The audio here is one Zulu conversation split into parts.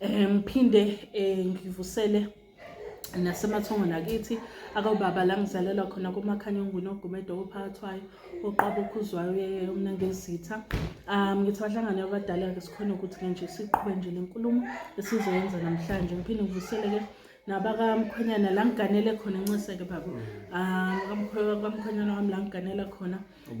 um ngiphinde um ngivusele nasemathongweni akithi akawubaba la ngizalelwa khona komakhanyongwini ogumedo ophakathwayo oqaba okhuzwayo uyeye umna ngezitha um ngithi bahlangane abadala-ke sikhona ukuthi-ke nje siqhube nje le nkulumo esizoyenza namhlanje ngiphinde ngivuseleke nabakamkhwenyana la ngiganele khona ncise-ke baba um kamkhwenyana wami la ngiganela khona um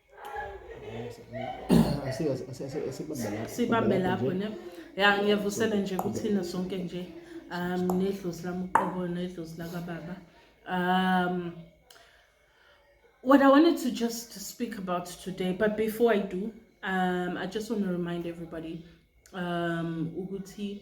sibambe lapho ne ya ngiyavusela nje kuthina sonke nje um nedlozi lami uqobo nedlozi lakababa um what i wanted to just speak about today but before i do um i just want to remind everybody um ukuthi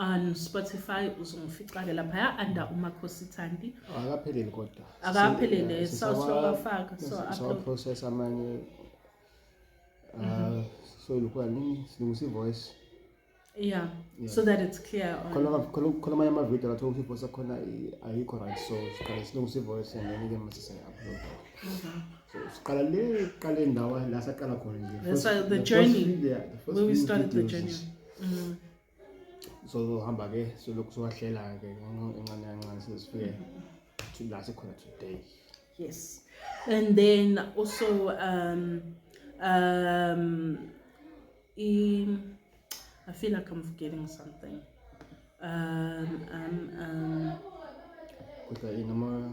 on Spotify uzongifixa-ke laphaya under umakhosi thandi akapheleli kodwa akaphelele sawafaka sawaprocess amanye uh, mhm. so lokhu anini silungisa i-voice yeah so that it's clear khona amanye amavidiyo athi ukuthi ivoice akhona ayikho right so siqale silungisa i-voice and then-ke mase siya-upload mhm. so siqala le qale ndawo la saqala khona nje the journey where we started the journey mm. sozohamba ke solokhu siwahlela ke incane kancane sizifike to la sikhona today yes and then also um um i i feel like i'm forgetting something um um um kodwa inoma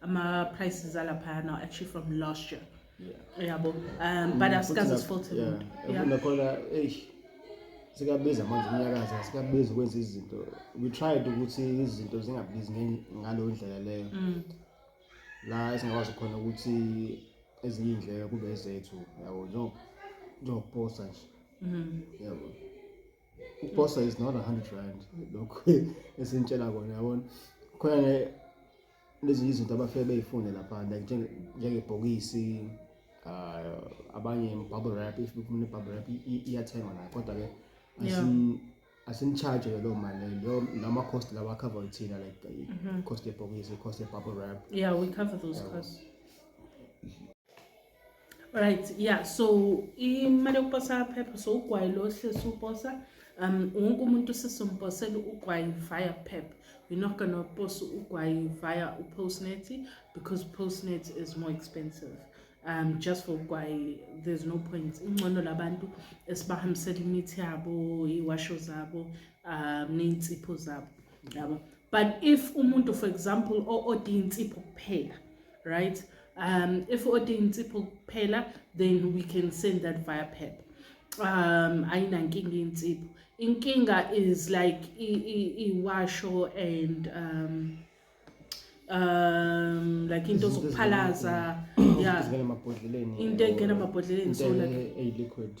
ama prices alaphaya now actually from last year yabo um but asikaze sifothi nakhona eish sikabiza manje umnyakazi asikabizi ukwenza izinto we tried ukuthi izinto zingabizi ngaleyo ndlela leyo mm. la esingakwazi khona ukuthi ezinye iy'ndleko kube ezethu yabo njengokuposta nje mm-hmm. yabo ukuposta is not a hundred rand lokhu esinitshela kona yabona khona Lezi izinto abafike beyifune lapha like njengebhokisi uh, abanye bubble wrap if befuna ibubble wrap iyathengwa nayo kodwa ke asimcharge ke loo mali leyo lama cost lawa cover ithina like mhm. cost yebhokisi cost yebubble wrap yeah we cover those costs right yeah so imali yokuposa phepha so ugwayi lo hlesi uposa um wonke umuntu sesomposela ugwayi via pep we're not gonna post ugwayi via upostnet because postnet is more expensive um just for ugwayi there's no point ingcono labantu esibahambisela imithi yabo iwasho zabo um ney'nsipho zabo yabo but if umuntu for example o-ode insipho kuphela right um if order insipho kuphela then we can send that via pep um ayinankinga insipho inkinga is like iwasho and um um like into zokuphalaza yeah into engena emabhodleleni so like a liquid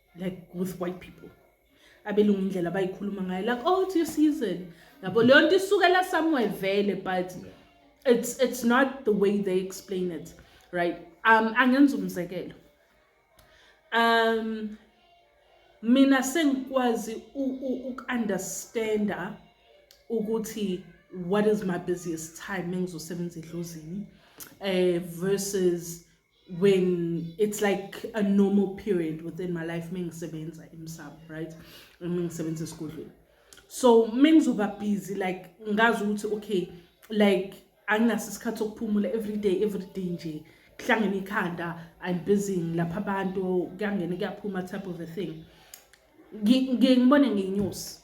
like with white people abelungu indlela abayikhuluma ngayo like oh it's your season yabo leyo nto isukela somewhere vele but it's it's not the way they explain it right um angenza umzekelo um mina sengikwazi uku-understanda ukuthi what is my busiest time mengizosebenza edlozini eh versus when it's like a normal period within my life mengisebenza emsamo right mengisebenza esigodlweni so mengizoba busy like ngazi ukuthi okay like anginaso isikhathi sokuphumula everyday everyday nje kuhlangene ikhanda i'm busy ngilapha abantu kuyangena kuyaphuma type of a thing ngibone ngenyusi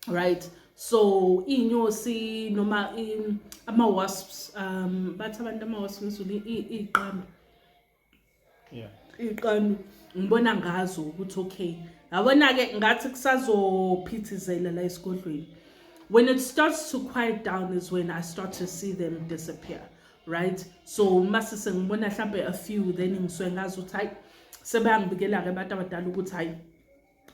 right so iy'nyosi noma ama-wasps um bathi abantu ama-wasps ngizulu iy'qambi iy'qambi ngibona ngazo ukuthi okay yabona-ke ngathi kusazophithizela la esigodlweni when it starts to quiet down is when i start to see them disappear right so uma sesengibona mhlawumbe a few then ngisuke ngazi ukuthi hayi sebeyangibikela-ke abantu abadala ukuthi hayi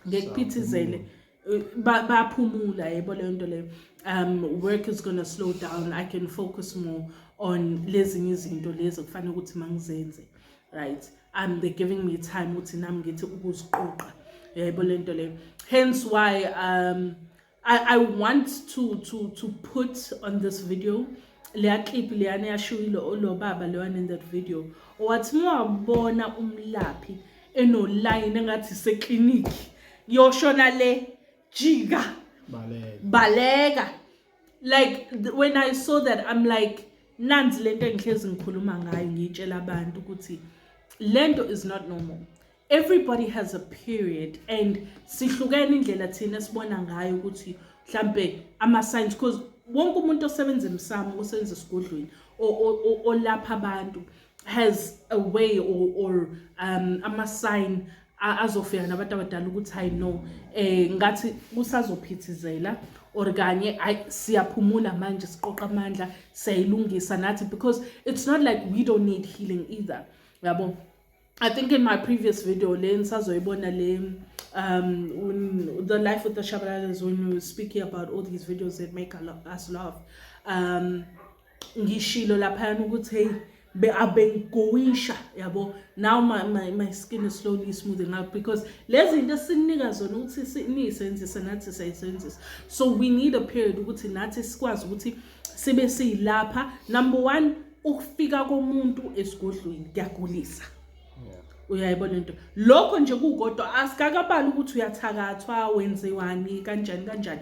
ngekuphithizele eh, baphumula yebo leyo nto leyo um work is gonna slow down i can focus more on lezinye izinto lezi okufanele ukuthi mangizenze right um they're giving me time ukuthi nami ngithi ukuziqoqa yebo le nto leyo hence why um I, I want to, to, to put on this video leya clip leyana yashuyile lo baba leyana in that video owathi mawabona umlaphi enoline engathi seklinikhi yoshona le jika baleka baleka like when i saw that i'm like nanzi lento engihlezi ngikhuluma ngayo ngiyitshela abantu ukuthi lento is not normal everybody has a period and sihlukene indlela thina sibona ngayo ukuthi mhlambe ama signs because wonke umuntu osebenza emsamo osebenza esigodlweni olapha abantu has a way or, or um ama sign azofika nabantu abadala ukuthi hayi no eh ngathi kusazophithizela or kanye hayi siyaphumula manje siqoqa amandla siyayilungisa nathi because it's not like we don't need healing either yabo I think in my previous video le nisazoyibona le um when the life with the Shabalalas when we were speaking about all these videos that make us laugh um ngishilo laphayana ukuthi hey be abengigowisha yabo now my, my, my skin is slowly smoothing up because lezi zinto esinika zona ukuthi niyisenzise nathi sayisenzisa so we need a period ukuthi nathi sikwazi ukuthi sibe siyilapha number one ukufika komuntu esigodlweni kuyagulisa uyayibona into lokho nje kukodwa asikakabali ukuthi uyathakathwa wenziwani kanjani kanjani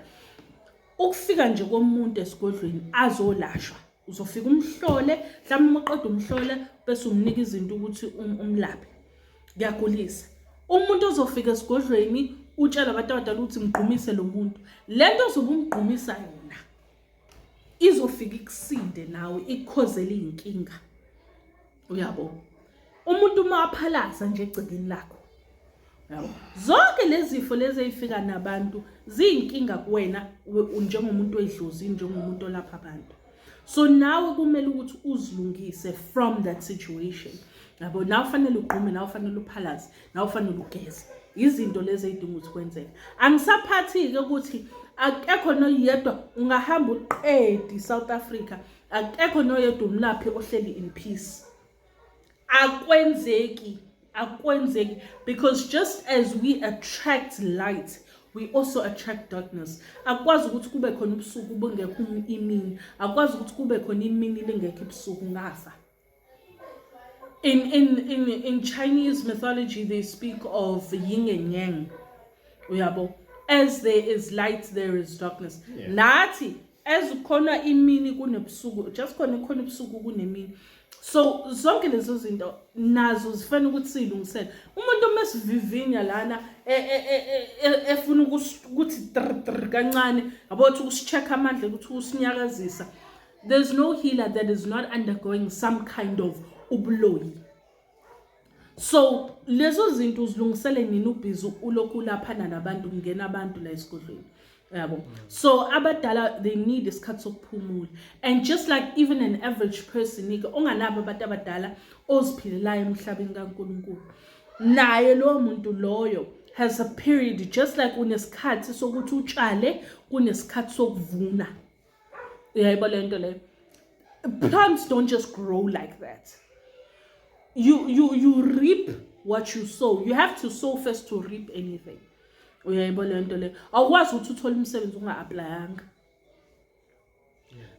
ukufika nje komuntu esigodlweni azolashwa uzofika umhlole mhlawumbe uma uqeda umhlole bese umnika izinto ukuthi um, umlaphe kuyagulisa umuntu ozofika esigodlweni utshela abantu abadala ukuthi mgqumise lo muntu le nto ozobe umgqumisa yona izofika ikusinde nawe ikukhozele iy'nkinga uyabo umuntu uma waphalaza nje egcekeni lakho yabo zonke lezi zifo lezi ey'fika nabantu ziyinkinga kuwena njengomuntu oyidlozi njengomuntu olapha abantu so nawe kumele ukuthi uzilungise from that situation yabo nawe ufanele ugqume nawe ufanele uphalaze nawe ufanele ugeze izinto lezi eyidinga ukuthi kwenzeke angisaphathike ukuthi akekho noyedwa ungahamba uqedi South Africa akekho noyedwa umlaphi ohleli in peace akwenzeki akwenzeki because just as we attract light we also attract darkness akwazi ukuthi kube khona ubusuku bungekho imini akwazi ukuthi kube khona imini lingekho ibusuku ngafa In, in, in, in Chinese mythology, they speak of yin and yang. Uyabo, as there is light, there is darkness. Yeah. Nathi, as khona imini kunebusuku, just khona khona ubusuku kunemini. So zonke lezo zinto nazo zifana ukuthi silungisele. Umuntu uma sivivinya lana e, e, e, efuna ukuthi kancane, yabo ukuthi usicheck amandla ukuthi usinyakazisa. There's no healer that is not undergoing some kind of ubuloyi. So lezo zinto uzilungisele nini ubhizi ulokhu ulaphana nabantu kungena abantu la esigodlweni. yabo so abadala they need isikhathi sokuphumula and just like even an average person ike onganabo abantu abadala oziphilelayo emhlabeni kaNkuluNkulu naye lowo muntu loyo has a period just like unesikhathi sokuthi utshale kunesikhathi sokuvuna uyayibo le nto leyo plants don't just grow like that you, you, you reap what you sow you have to sow first to reap anything uyayibo le nto leyo awukwazi ukuthi uthole umsebenzi unga-aplayanga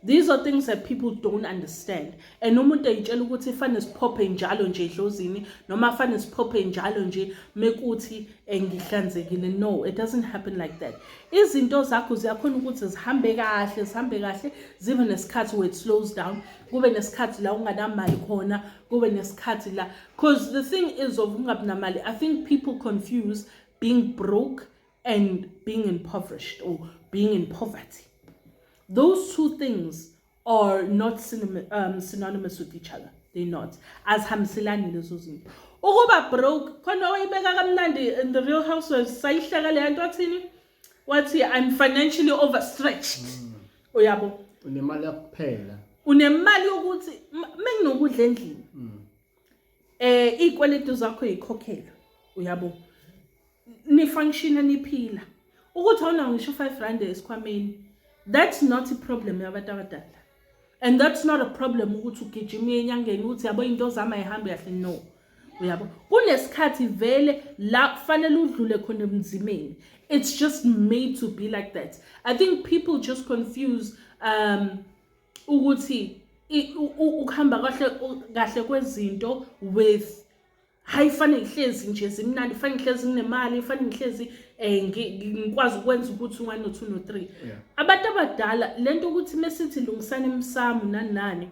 These are things that people don't understand. and umuntu eyitshela ukuthi fane siphophe njalo nje edlozini noma fane siphophe njalo nje mekuthi engihlanzekile eh, no it doesn't happen like that izinto zakho ziyakhona ukuthi zihambe kahle zihambe kahle zibe nesikhathi where it slows down kube nesikhathi la unganamali khona kube nesikhathi la because the thing is of ungabi namali i think people confuse being broke and being impoverished or being in poverty those two things or not um, synonymous with each other they not azihambiselani lezo zinto ukuba broke khona wayibeka kamnandi in the real housewives sayihleka leya nto athini wathi i'm financially overstretched mm. uyabo unemali yakuphela unemali yokuthi menginokudla endlini mm. eh izikweletu zakho yikhokhelwe uyabo nifunctiona niphila ukuthi awunawo ngisho u-five rand esikhwameni that's not iproblem yabantu abadala and that's not a problem ukuthi ugijima enyangeni ukuthi yabo into zami ayihambi kahle no uyabo kunesikhathi vele la kufanele udlule khona emzimeni it's just made to be like that i think people just confuse um ukuthi ukuhamba kahle kahle kwezinto with hhayi fane ngihlezi nje zimnandi fane ngihlezi nginemali fane ngihlezi um ngikwazi ukwenza ukuthi u-one no-two no-three abantu abadala le nto ukuthi mesithi lungisani emsamu nani nani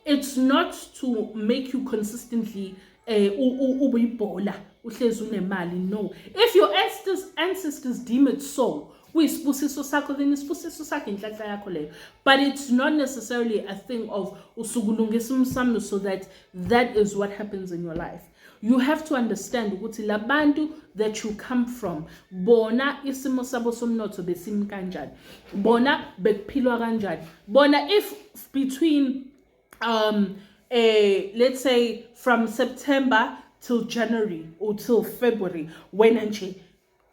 it's not to make you consistently um ubuyibhola uhlezi unemali no if your ancestors, ancestors deem it so kuyisibusiso sakho then isibusiso sakho inhlanhla yakho leyo but it's not necessarily a thing of usukulungisa umsamo so that that is what happens in your life you have to understand ukuthi labantu that you come from bona isimo sabo somnotho besimi kanjani bona bekuphilwa kanjani bona if between um eh let's say from September till January or till February wena nje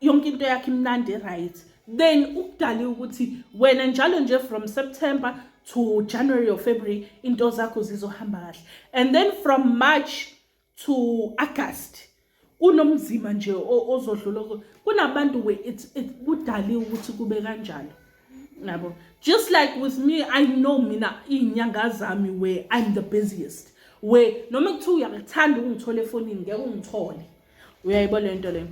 yonke into yakhe imnandi right then ukudale ukuthi wena njalo nje from September to January or February into zakho zizohamba kahle and then from March to August kunomzima nje ozodlula kunabantu we it kudali ukuthi kube kanjalo nabo just like with me i know mina inyanga zami we i'm the busiest we noma kuthiwa uyakuthanda ungithole efonini ngeke ungithole uyayibo le nto le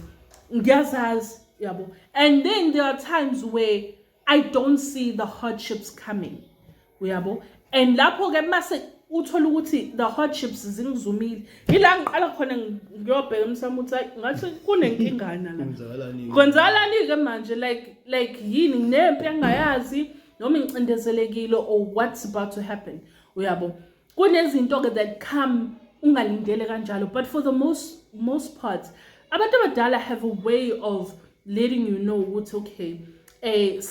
ngiyazazi yabo and then there are times where i don't see the hardships coming uyabo and lapho-ke mase uthola ukuthi the hardships zingizumile yila ngiqala khona ngiyobheka emsamo ukuthi hayi ngathi kunenkingana la kwenzakalani-ke manje like like yini nginempi engingayazi noma ngicindezelekile or what's about to happen uyabo kunezinto-ke that come ungalindele kanjalo but for the most, most part abantu abadala have a way of letting you know ukuthi okay eh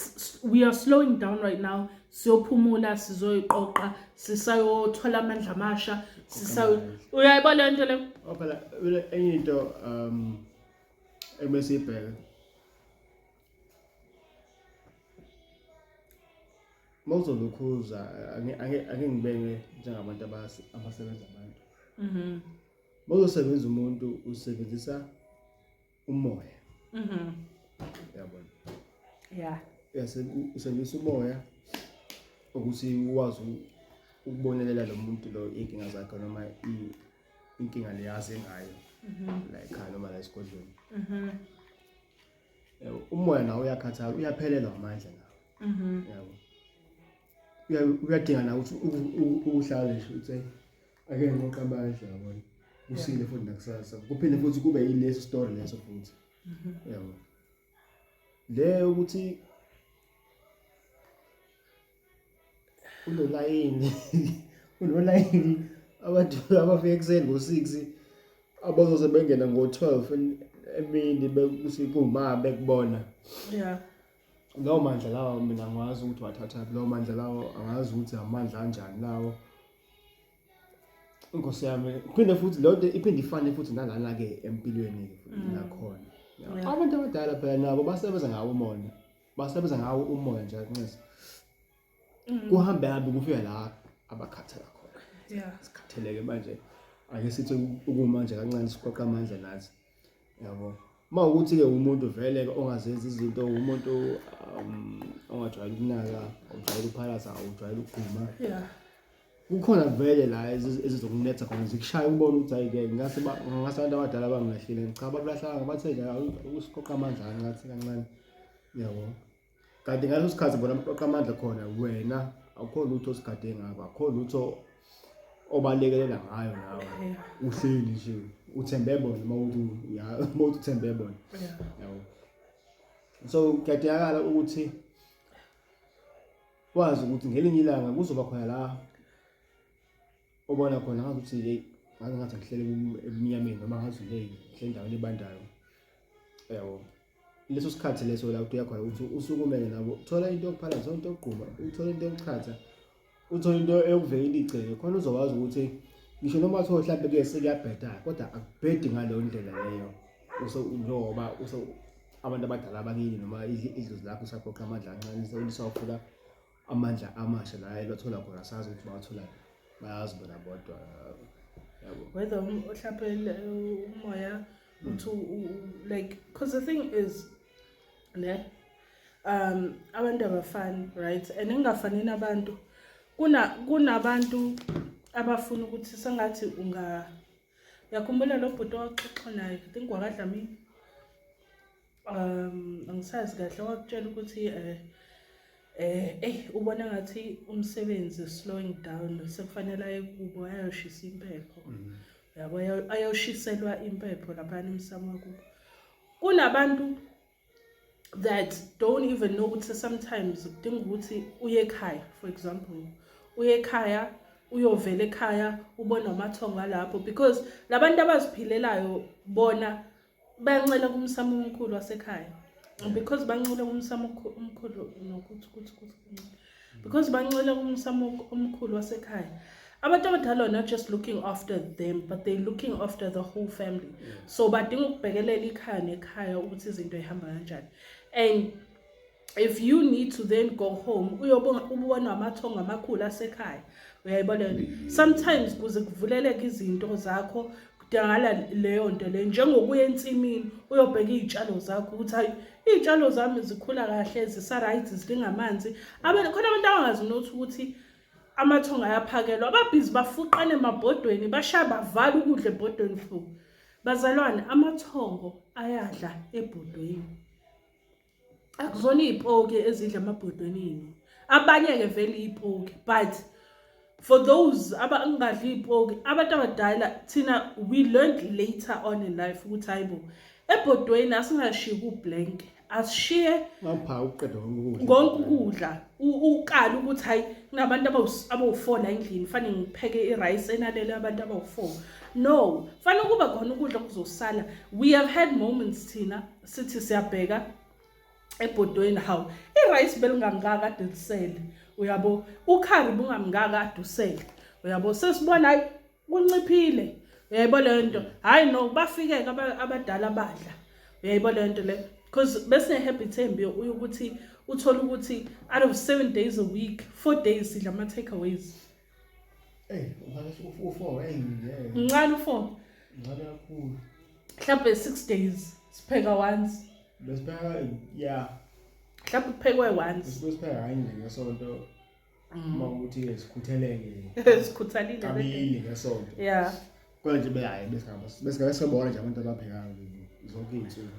we are slowing down right now siyophumula sizoyiqoqa sisayothola amandla amasha sisayo uyayiba le nto le phela enye into um ebesibheke uma uzolukhuza angeke ngibeke njengabantu abasebenza abantu mhm. uma uzosebenza umuntu usebenzisa umoya mhm. yabona ya usebenzisa umoya ukuthi ukwazi ukubonelela lo muntu lo iy'nkinga zakhe noma inkinga leyazi ngayo mhm. la ekhaya noma la esigodlweni umoya nawo uyakhathala uyaphelelwa amandla nawo mhm. yabo uyadinga na ukuthi ukuhlala nje uthi ake ngoqabanje yabona usile futhi nakusasa kuphinde futhi kube yileso story leso futhi mhm. yabo le ukuthi unolayini unolayini abantu abafika ekuseni ngo-six abazoze bengena ngo-twelve emini bekuthi kuma bekubona ya lawo mandla lawo mina angiwazi ukuthi wathathaphi lawo mandla lawo angazi ukuthi amandla anjani lawo inkosi yami phinde futhi leyo nto iphinde ifane futhi nalana-ke empilweni nakhona mm. abantu abadala phela nabo basebenza ngawo umona basebenza ngawo umoya nje akunxesa mm. kuhambe hambe kufika la abakhathela khona yeah sikhatheleke manje ake sithi ukuma nje kancane siqoqa amandla nathi yabo uma ukuthi ke umuntu vele ongazenza izinto umuntu um, ongajwayele ukunaka ujwayele ukuphalasa awujwayele ukuguma yeah kukhona vele la ezizokunetha khona zikushaya ubone ukuthi ayike ngase ngase abantu abadala bangilahlile cha babulahlanga bathe nje usiqoqa amandla angathi kancane yabo kanti ngaleso sikhathi bona mqoqa amandla khona wena akukho lutho osigade ngakho akukho lutho obalekelela ngayo nawe uhleli nje uthembe bona uma uthi ya uma uthi uthembe bona yabo so kuyadingakala ukuthi wazi ukuthi ngelinye ilanga kuzoba khona la obona khona ngathi ukuthi hey ngaze ngathi ngihlele ebumnyameni noma ngathi hey ngihlele endaweni ebandayo yabo leso sikhathi leso la uthi uyakhona ukuthi usukumele nabo thola into yokuphala thola into yokugquma uthole into yokuchatha uthole into eyokuvekela igceke khona uzokwazi ukuthi ngisho noma thola mhlawumbe kuyese kuyabheda kodwa akubhedi ngaleyo ndlela leyo njengoba abantu abadala abakini noma idlozi lakho usaphoqa amandla ancane selisawufuna amandla amasha la ebathola khona sazi ukuthi bawatholani bayazi bona bodwa yabo whether um, uhlaphele uh, umoya uthi like because the thing is ne um abantu abafani right and ingafani nabantu kuna kunabantu abafuna ukuthi sengathi unga Yakhumbula lo bhuti owaxoxa naye, I think wakadlamini. Um angisazi kahle wakutshela ukuthi eh eh ey ubona ngathi umsebenzi slowing down sekufanele aye kubo ayoshisa impepho. Mhm. Yabo ayoshiselwa impepho lapha emsamo kubo. Kunabantu that don't even know ukuthi sometimes kudinga ukuthi uye ekhaya for example uye ekhaya uyovela ekhaya ubone amathongo alapho because labantu abaziphilelayo bona bayancela kumsamo omkhulu wasekhaya because bancela kumsamo omkhulu nokuthi kuthi kuthi because bancela umsamo omkhulu wasekhaya abantu abadala are not just looking after them but they looking after the whole family yeah. so badinga ukubhekelela ikhaya nekhaya ukuthi izinto ihamba kanjani and if you need to then go home uyobona ubona amathongo amakhulu asekhaya uyayibona sometimes kuze kuvuleleke izinto zakho kudingakala leyo nto leyo njengokuya ensimini uyobheka iy'tshalo zakho ukuthi hayi iy'tshalo zami zikhula kahle zisa-right zidinga amanzi khona abantu abangazi nothi ukuthi amathongo ayaphakelwa ababhizi bafuqane emabhodweni bashaya bavala ukudla ebhodweni futhi bazalwane amathongo ayadla ebhodweni akuzona iy'poki ezidla amabhodwenini abanye-ke vele iy'poki but for those abangadli iy'poki abantu abadala thina we learned later on in life ukuthi hayi bo ebhodweni asingashiyi kublank asishiye konke ukudla ukala ukuthi hayi kunabantu abawu-four la endlini fanele ngipheke i-rice enalele abantu abawu-four no fanele kuba khona ukudla okuzosala we have had moments thina sithi siyabheka ebhodweni hawu i-rice belingangaka ade lisele uyabo ukhari bungamngaka ade usele uyabo sesibona hayi kunciphile uyayibo leyo nto hhayi no bafike-ke abadala badla uyayibo leyo nto leyo because besine-habit embi ukuthi uthole ukuthi out of seven days a week four days sidla ama-take aways Ey, ukhale u4 ey ngeke. Mncane u4. Mncane kakhulu. Mhlawumbe 6 days sipheka once. Besipheka yeah. Mhlawumbe kuphekwe once. Besipheka kanye ngesonto. Mm. Uma ukuthi sikhutheleke. Sikhuthalile. Kabili ngesonto. Yeah. Kodwa nje behayi besingaba besingabe sobona nje abantu abaphekayo zonke izinsuku.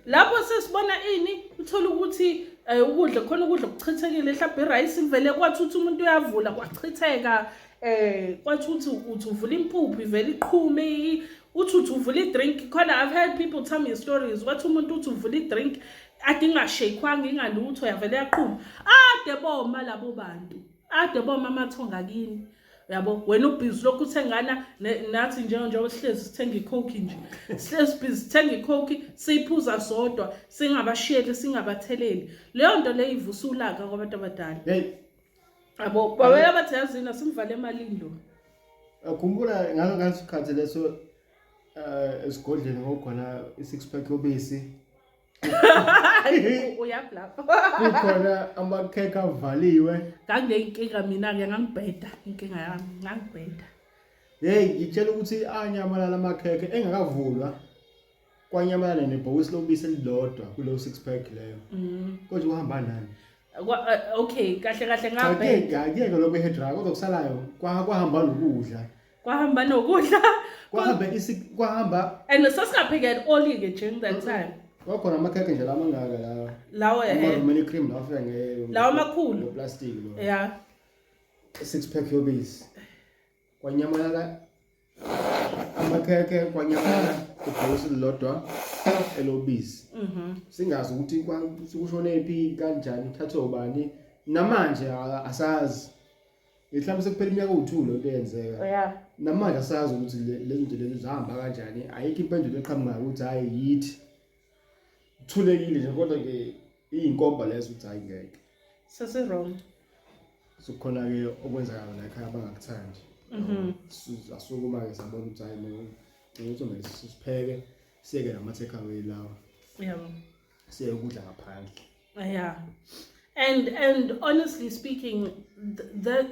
Lapho sesibona ini uthola ukuthi eh, ukudla khona ukudla kuchithekile mhlawumbe irice ivele kwathutha umuntu uyavula kwachitheka eh kwathuthi uthi uvula impuphu ivele iqhume uthi uthi uvula i-drink khona i've heard people tell me stories wathi umuntu uthi uvula i-drink ade ingashaykhwanga ingalutho yavele yaqhuma ade boma labo bantu ade boma amathonga kini yabo wena ubhizi lokhu uthengana nathi njengoba sihlezi sithenga icoke nje sihlezi bhizi sithenga icoke siyiphuza sodwa singabashiyeli singabatheleli leyo nto leyo ivusa ulaka kwabantu abadala yabo babela bathi yazini asimvale emalini lo khumbula ngalo ngasikhathi leso eh, esigodleni ngokhona i-six pack yobisi uyaphi lapho kukhona amakhekhe avaliwe nganginenkinga mina-ke ngangibheda inkinga yami ngangibheda yeyi ngitshela ukuthi anyamalala amakhekhe engakavulwa kwanyamalala nebhokisi lobisi elilodwa kuleyo six pack leyo mm. konje kuhamba nani Kwa- eh, okay kahle kahle ngabheda ngiyeke lokho ehedra kodwa kusalayo kwa- kwahamba nokudla kwahamba nokudla kwahambe isi kwahamba and sasingapheke at all ke during that time kwakhona amakhekhe nje lama ngaka lawa lawo eh ama cream lawa afika nge lawa amakhulu no plastic lo yeah six pack yobisi kwanyamalala amakhekhe kwanyamalala ibhosi lodwa elobisi mhm singazi ukuthi kushone phi kanjani thathe ubani namanje asazi mhlawumbe sekuphela iminyaka owu-two lento eyenzeka ya namanje asazi ukuthi le- lezi zinto lezi zihamba kanjani ayikho impendulo eqhamukayo ukuthi hhayi yithi thulekile nje kodwa ke iyinkomba lezo ukuthi hhayi ngeke sesirong sokukhona-ke okwenzakala la ekhaya abangakuthandi Mhm. Su- asukuma-ke sabona ukuthi hhayi no ukuthi kumele sipheke siyeke nama-take away lawa yabo siye ukudla ngaphandle yeah and and honestly speaking th that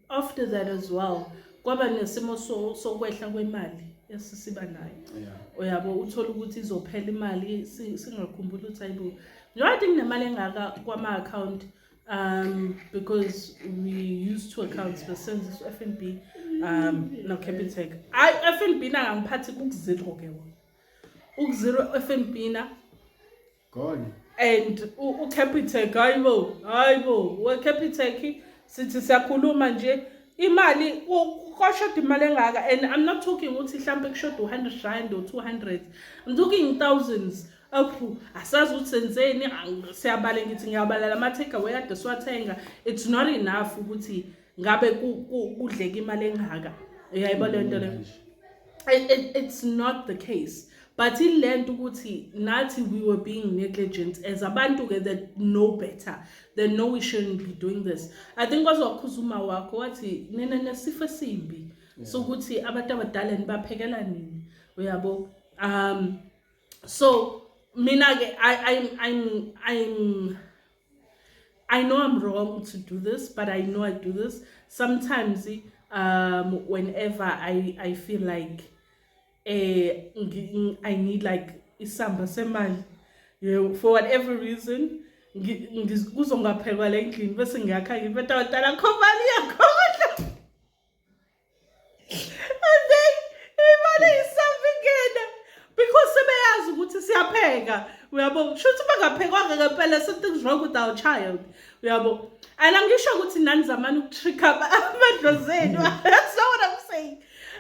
after that as well kwaba nesimo sokwehla kwemali esisiba nayo uyabo uthola ukuthi izophela imali singakhumbuli ukuthi ayibo njengoba thi kunemali engaka kwama-account um because we used two accounts besebenzisa u-f n b um nocapitec ayi u-f n b nangangiphathi kukuzero-ke wona ukuzero FNB na gone and ucapitec hayibo hayibo wecapitec sithi siyakhuluma nje imali kwashoda imali engaka and i'm not talking ukuthi mhlawumbe kushoda u-hundred rand or two hundred i'm talking thousands aphu asazi ukuthi senzeni siyabale ngithi ngiyabala la ma-take away ade siwathenga it's not enough ukuthi ngabe kudleka imali engaka uyayibo le nto le it's not the case but ile nto ukuthi nathi we were being negligent as abantu-ke that know better that know we shouldn't be doing this i think kwaze wakhuza uma wakho wathi nina nesifo esimbi sokuthi abantu abadala nibaphekela nini uyabo um so mina-ke i'm i'm i'm I know I'm wrong to do this, but I know I do this. Sometimes um, whenever I, I feel like eh, I need like isamba semali you know, for whatever reason kuzongaphekwa le ndlini bese ngiyakha ngibeta wadala khomali yakho and then imali isavingena because sebeyazi ukuthi siyapheka uyabo kusho ukuthi bangaphekwanga ngempela something's wrong with our child uyabo and angisho ukuthi nani zamani ukutricka amadlozenu that's not what i'm saying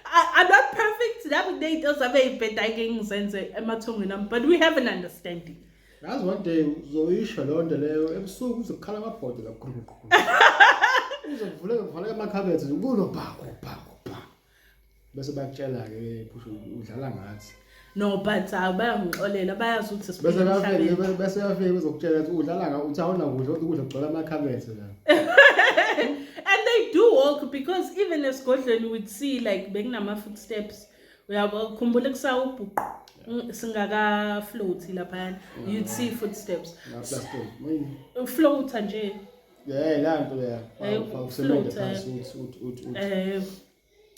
I'm not perfect. That day does have a bit I can sense it. Emma Tongan, but we have an understanding. Yazi one day uzoyisho leyo nto leyo ebusuku uzokukhala amabhodo kakhulukhulu. Uzovuleka kuvaleka amakhabethe kulo bhako bhako bha. Bese bakutshela ke phusha udlala ngathi. no but hayi bayangixolela bayazi ukuthi Bese siphila bafike emhlabeni. bese bafike uzokutshela ukuthi udlala nga uthi awona kudla uthi ukudla kugcwala amakhabethe la. and they do walk because even esigodlweni we'd see like bekunama footsteps uyakhumbula kusawubhuqu singakafloathi laphayana you'd see footsteps ufloatha nje yeah la nto ya awusebenza phansi uthi uthi uthi eh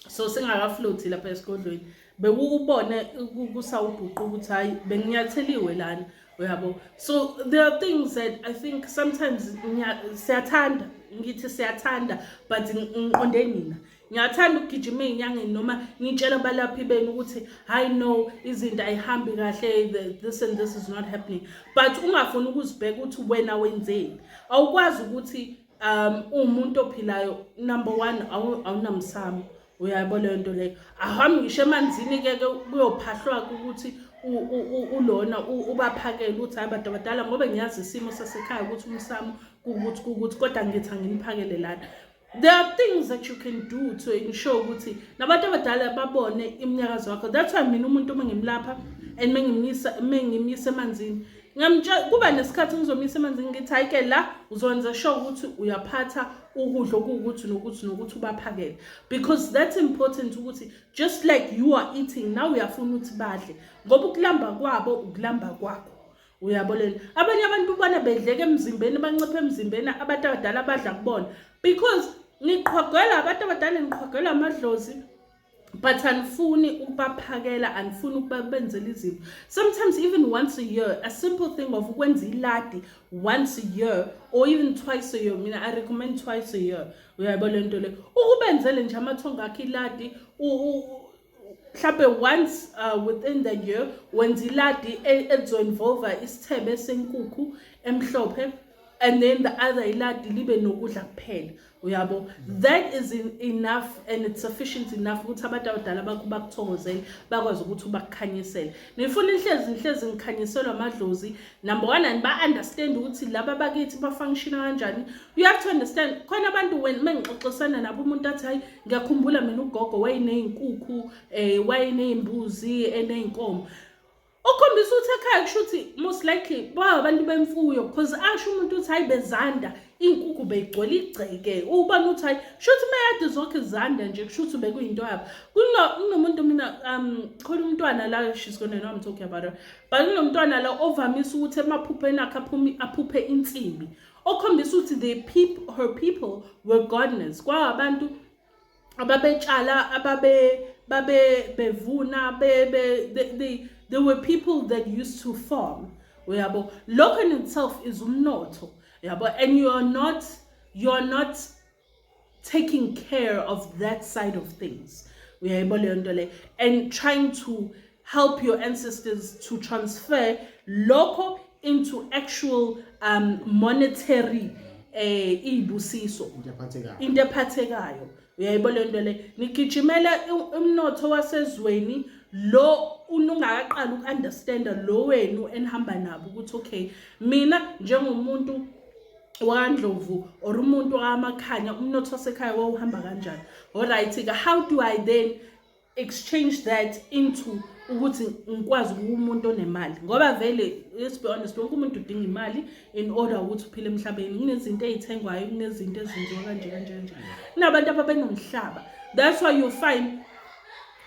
so singakafloathi lapha esigodlweni bekukubone kusawubhuqa ukuthi hayi benginyatheliwe lana uyabo so there are things that i think sometimes siyathanda ngithi siyathanda but ngiqonde nina ngiyathanda ukugijima ey'nyangeni noma ngitshela abalaphi benu ukuthi hayi no izinto ayihambi kahle this and this is not happening but ungafuni ukuzibheka ukuthi wena wenzeni awukwazi ukuthi um uwumuntu ophilayo number one awunamsamo uyayabo leyo nto leyo ahambe ngisho emanzini-ke ke kuyophahlwa ukuthi ulona ubaphakele ukuthi hayi bantu abadala ngoba ngiyazi isimo sasekhaya ukuthi umsamo kukuthi kukuthi kodwa ngithi anginiphakele lana there are things that you can do to ensure ukuthi nabantu abadala babone iminyakazo wakho that's why mina umuntu uma ngimlapha and mengimyisa mengimyisa emanzini ngamtshela kuba nesikhathi ngizomyisa emanzini ngithi hayike la uzokwenza sure ukuthi uyaphatha ukudla okuwukuthi nokuthi nokuthi ubaphakele because that's important ukuthi just like you are eating nawe uyafuna ukuthi badle ngoba ukulamba kwabo ukulamba kwakho uyabo leli abanye abantu ubona bedleke emzimbeni banciphe emzimbeni abantu abadala abadla kubona because niqhogela abantu abadala niqhogela amadlozi but anifuni ukubaphakela anifuni ukubenzela izinto sometimes even once a year a simple thing of ukwenza iladi once a year or even twice a year mina i recommend twice a year uyayibona lento le ukubenzele nje amathongo akhe iladi mhlampe once uh, within the year wenza iladi e, ezoinvolva isithebe senkukhu emhlophe and then the other iladi libe nokudla kuphela uyabo that is in, enough and it's sufficient enough ukuthi abantu abadala bakho bakuthokozele bakwazi ukuthi ubakukhanyisele ngifuna inhlezi inhlezi ngikhanyiselwa amadlozi number one and ba-understand ukuthi laba bakithi bafunctiona kanjani you have to understand khona abantu when uma ngixoxisana nabo umuntu athi hayi ngiyakhumbula mina ugogo wayeneyinkukhu um eh, wayeneyimbuzi eneyinkomo okhombisa ukuthi ekhaya kusho ukuthi most likely babantu bemfuyo because asho umuntu ukuthi hayi bezanda iy'nkukhu beyigcwele igceke ubona ukuthi hayi kusho ukuthi meyade zonke zanda nje kusho ukuthi bekuyinto yabo kunomuntu mina um khona umntwana la she's gonna know I'm talking about her but kunomntwana la ovamise ukuthi emaphupheni akhe aphuphe insimbi okhombisa ukuthi the people, her people were gardeners kwaba abantu ababetshala ababe babe bevuna be, be, they, they, they were people that used to farm uyabo lokho in itself is umnotho yabo and you are not you are not taking care of that side of things uyayibona leyo nto le and trying to help your ancestors to transfer lokho into actual um, monetary eh izibusiso into ephathekayo uyayibona leyo nto le nigijimela umnotho wasezweni lo unungakaqala uku-understanda lo wenu enihamba nabo ukuthi okay mina njengomuntu wakandlovu or umuntu wamakhanya umnotho wasekhaya wawuhamba kanjani olright-ke how do i then exchange that into ukuthi ngikwazi ukuba umuntu onemali ngoba vele let's be honest wonke umuntu udinga imali in order ukuthi uphile emhlabeni kunezinto ey'thengwayo kunezinto ezenziwa kanje kanje kanje kunabantu ababenomhlaba that's why you find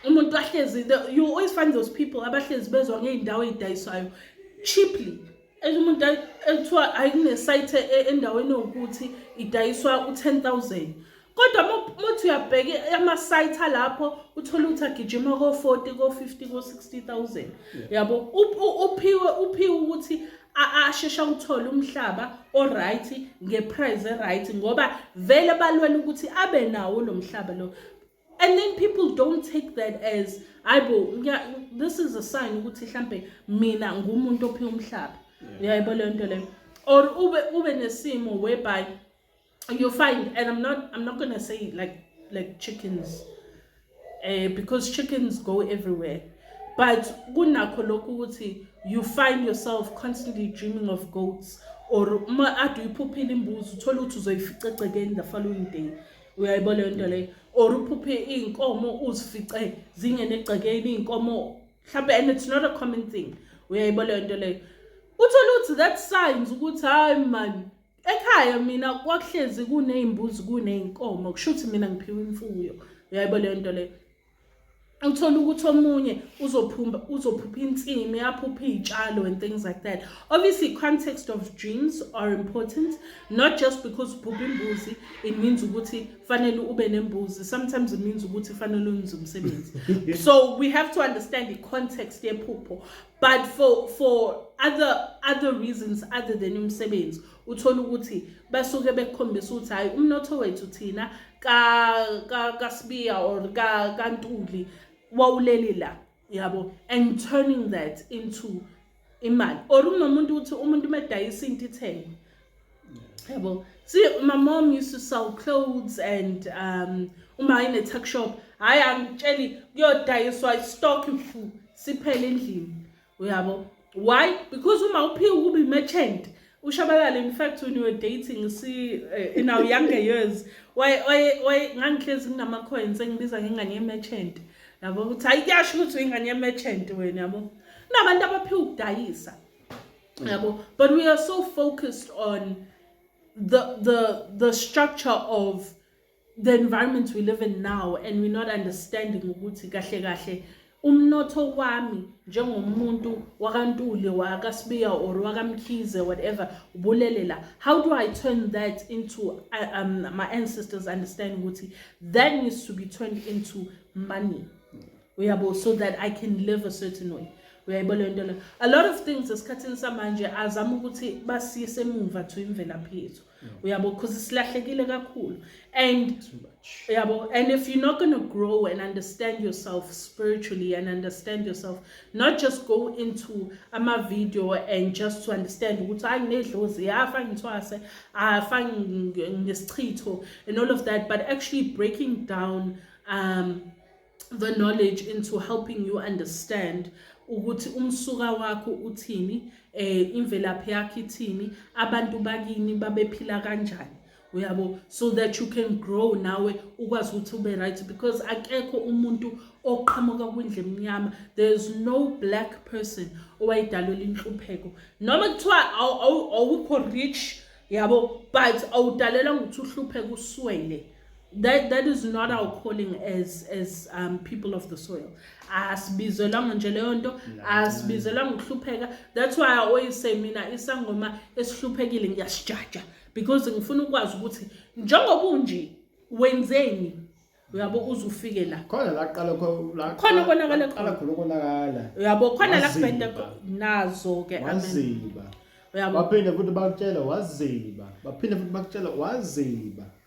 umuntu ahlezi you always find those people abahlezi bezwa ngey'ndawo ey'dayiswayo cheaply umuntu ekuthiwa hayi kunesayithe e, endaweni yokuthi idayiswa u-ten thousand kodwa muthi uyabheka amasayitha lapho uthole ukuthi agijima ko-forty ko-fifty ko-sixty thousand yabo uphiwe uphiwe ukuthi ashesha uthole umhlaba oright ngeprice eright ngoba vele balwela ukuthi abe nawo lo mhlaba lo and then people don't take that as hayibo this is a sign ukuthi mhlambe mina ngumuntu ophi umhlaba uyayibo leyo nto leyo or ube ube nesimo whereby you find and i'm not i'm not going to say like like chickens uh, because chickens go everywhere but kunakho lokhu ukuthi you find yourself constantly dreaming of goats or uma ade uyiphuphile imbuzi uthole ukuthi uzoyificecekeni the following day uyayibona leyo nto leyo or uphuphe iy'nkomo uzifice zingene egcekeni iy'nkomo mhlawumbe and it's not a common thing uyayibona leyo nto leyo uthole ukuthi that signs ukuthi hhayi mani ekhaya mina kwakuhlezi kuney'mbuzi kuney'nkomo kusho ukuthi mina ngiphiwe imfuyo uyayibona leyo nto leyo uthole ukuthi omunye uzophumba uzophupha insimi aphupha iy'tshalo and things like that obviously context of dreams are important not just because uphupha imbuzi it means ukuthi fanele ube nembuzi sometimes it means ukuthi fanele unze umsebenzi so we have to understand the context yephupho but for for other other reasons other than umsebenzi uthole ukuthi basuke bekukhombisa ukuthi hhayi umnotho wethu thina kasibiya or kantuli wawuleli la yabo and turning that into imali or unomuntu uthi umuntu uma edayisa into ithenge yabo see my mom used to sell clothes and um uma ayine-tuck shop hhayi angitsheli kuyodayiswa istock mfu siphele endlini uyabo why because uma uphiwa ukuba i-merchant ushabalala in fact when you were dating si uh, in our younger years why why why ngangihlezi nginama coins engibiza ngengane ye merchant yabo ukuthi hayi kuyasho ukuthi uyingane ye merchant wena yabo nabantu abaphiwa ukudayisa yabo but we are so focused on the the the structure of the environment we live in now and we're not understanding ukuthi kahle kahle umnotho wami njengomuntu wakantuli wakasibiya or wakamkhize whatever ubulele la how do i turn that into uh, um, my ancestors understand ukuthi that needs to be turned into money uyabo so that i can live a certain way uyayibona leyo nto leyo a lot of things esikhathini samanje azama ukuthi basiyise emuva to imvelaphi yethu uyabo because silahlekile kakhulu and uyabo and if you're not going to grow and understand yourself spiritually and understand yourself not just go into ama video and just to understand ukuthi hayi nginedlozi yafa ngithwase afa ngesichitho and all of that but actually breaking down um the knowledge into helping you understand ukuthi umsuka wakho uthini eh imvelaphi yakhe ithini abantu bakini babephila kanjani uyabo so that you can grow nawe ukwazi ukuthi ube right because akekho umuntu oqhamuka kwindle emnyama there is no black person owayidalwela inhlupheko noma kuthiwa awukho rich yabo but awudalelanga ukuthi uhlupheke uswele that that is not our calling as as um people of the soil asibizelwanga nje leyo nto asibizelwanga ukuhlupheka that's why i always say mina isangoma esihluphekile ngiyasijaja because ngifuna ukwazi ukuthi njengoba unje wenzeni uyabo uze ufike la khona la qala la khona konakala qala khona konakala uyabo khona la kubhenda nazo ke amen uyabo baphinde futhi bakutshela waziba baphinde futhi bakutshela waziba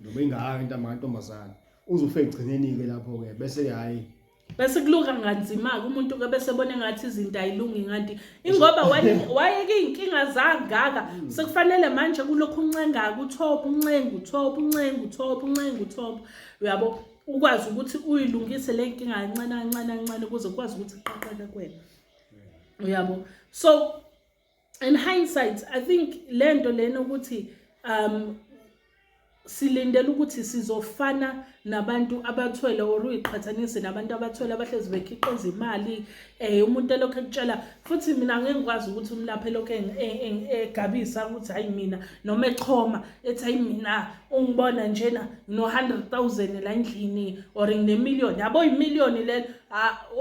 noma ingaka into amantombazane uzofe egcineni-ke lapho-ke bese-ke hhayi bese kuluka nganzima-ke umuntu ke bese bone ngathi izinto ayilungi nganti ingoba wayeke iy'nkinga zangaka hmm. sekufanele manje kulokhu uncengaka uthopha uncenga uthopha uncenga uthopha uncenga uthopha uyabo ukwazi ukuthi uyilungise le nkinga kancane kancane kancane ukuze ukwazi ukuthi iqaqeke kwena uyabo so in hindsight i think le nto lena ukuthi um silindele ukuthi sizofana nabantu abathwele or uyiqhathanise nabantu abathwele abahlezi bekhiqiza imali eh umuntu elokho ekutshela futhi mina ngeke ngikwazi ukuthi umlaphe lokho egabisa ukuthi hayi mina noma echoma ethi hayi mina ungibona njena ngino 100000 la endlini or ngine million yabo imillion lelo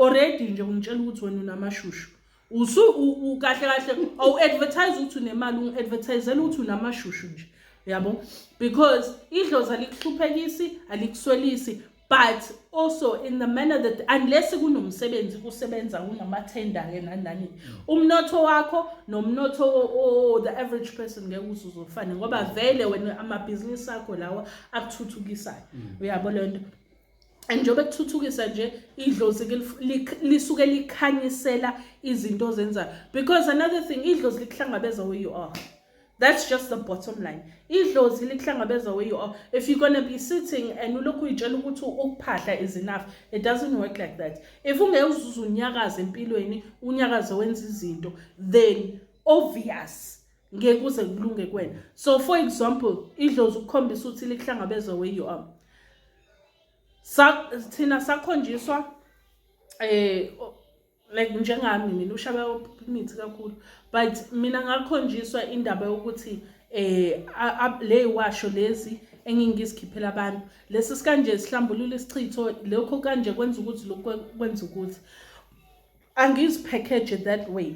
already nje ungitshela ukuthi wena unamashushu usu kahle kahle awu advertise ukuthi unemali ungi advertisela ukuthi unamashushu nje yabo because idlozi alikuhluphekisi alikuswelisi but also in the manner that unless kunomsebenzi kusebenza kunamathenda ke nanani umnotho wakho nomnotho o the average person ngeke uzuzofane ngoba vele wena amabhizinisi akho lawa akuthuthukisayo mm. uyabo lento and njengoba kuthuthukisa nje idlozi lisuke likhanyisela izinto ozenzayo because another thing idlozi likuhlangabeza where you are That's just the bottom line. Idlozi likuhlangabeza where you are. If you're going to be sitting and ulokhu uyitshela ukuthi ukuphahla is enough, it doesn't work like that. If ungeke uzuze unyakaze empilweni, unyakaze wenza izinto, then obvious ngeke kuze kulunge kwena. So for example, idlozi ukukhombisa ukuthi likuhlangabeza where you are. sa thina sakhonjiswa eh like njengami mina ushaba imithi kakhulu but mina ngakhonjiswa indaba yokuthi eh le washo lezi engingizikhiphela abantu lesi sikanje sihlambulula isichitho lokho kanje kwenza ukuthi lokho kwenza ukuthi angiziphekeje that way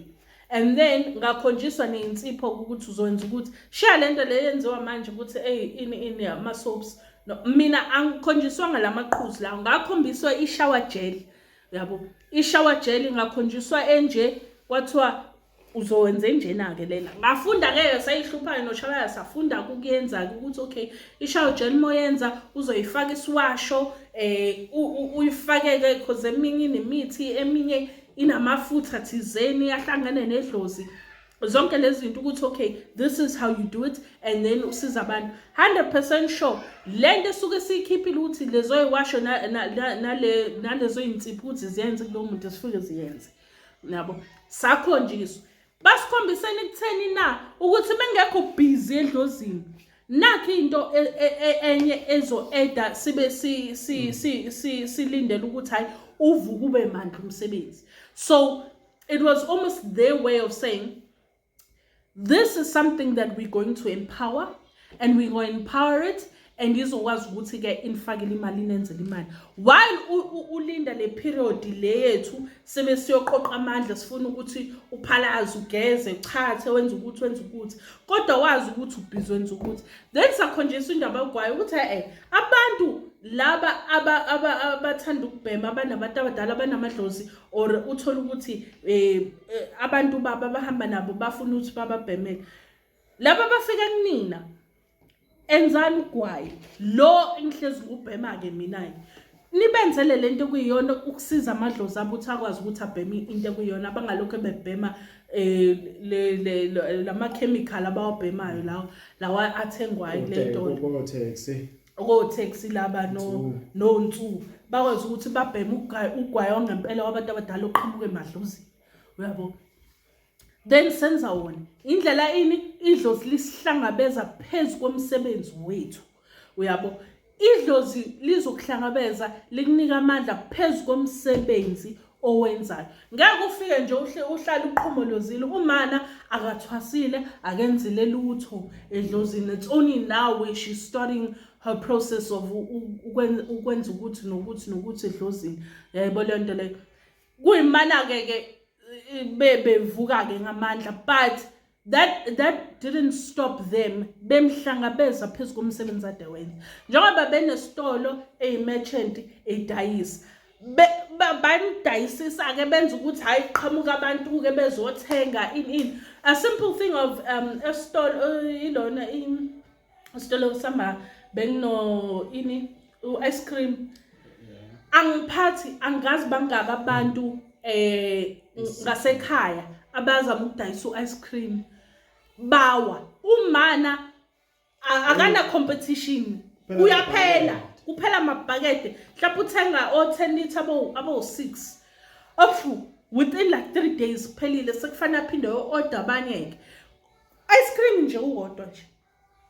and then ngakhonjiswa neyinsipho ukuthi uzokwenza ukuthi shiya le nto le yenziwa manje ukuthi eyi ini ini ama-soaps no, mina angikhonjiswanga la maqhuzi lawo ngakhombiswa ishower gel yabo ishower gel ngakhonjiswa enje kwathiwa uzowenze njena ke lena ngafunda ke esayihluphayo noshalaya safunda ukuyenza ukuthi okay ishayo gel moyenza uzoyifaka isiwasho eh uyifake ke because eminye inemithi eminye inamafutha thizeni ahlangene nedlozi zonke lezi zinto ukuthi okay this is how you do it and then usiza abantu 100% sure lento esuke siyikhiphile ukuthi lezo yiwasho nalezo yinsiphuthi ziyenze kulowo muntu esifuke ziyenze nabo sakhonjiswa basikhombiseni kutheni na ukuthi bengekho busy edlozini nakho into e, e, e, enye ezo-eda sibe silindele ukuthi hhayi uvuke ube mandla umsebenzi so it was almost their way of saying this is something that we're going to empower and we go empower it and izokwazi ukuthi ke inifakele imali inenzele imali while ulinda le period le yethu sebe siyoqoqa amandla sifuna ukuthi uphalaze ugeze uchathe wenze ukuthi wenze ukuthi kodwa wazi ukuthi ubhizi wenze ukuthi then sakhonjiswa indaba yogwayo ukuthi eh abantu laba abathanda ukubhema abanabantu abadala abanamadlozi or uthole ukuthi um eh, abantu baba bahamba nabo bafuna ukuthi bababhemele laba bafika kunina enzani ugwayi lo engihlezi ngubhema ke mina ke nibenzele lento kuyiyona ukusiza amadlozi abo ukuthi akwazi ukuthi abheme into ekuyiyona abangalokho bebhema eh le le lama chemical abawabhemayo lawo lawa athengwayo le nto okotaxi laba nonsuku bakwazi ukuthi babheme ugwayi wangempela wabantu abadala oqhamuka emadlozini uyabo then senza wona indlela ini idlozi lisihlangabeza phezu komsebenzi wethu uyabo idlozi lizokuhlangabeza likunika amandla phezu komsebenzi owenzayo ngeke ufike nje uhlale uqhomolozile umana akathwasile akenzile lutho edlozini it's only now when she's starting her process of ukwenza ukuthi nokuthi nokuthi edlozini yaybo leyo nto leyo kuyimana-ke ke bebevuka-ke ngamandla but that that didn't stop them bemhlangabeza phezu komsebenzi ade wenza njengoba benesitolo eyimerchant idayisa banidayisisa-ke benza ukuthi hhayi qhamuka abantu-ke bezothenga in in a simple thing of um esitolo ilona sitolo sihamba bengino ini u-ice cream angiphathi angazi bangaki abantu eh ngasekhaya abazama ukudayisa u-ice cream bawa umana akana competition uyaphela kuphela amabhakede mhlawumbe uthenga o-ten litre abo-six ofu within like three days kuphelile sekufanele aphinde o-order abanye-ke ice cream nje uwodwa nje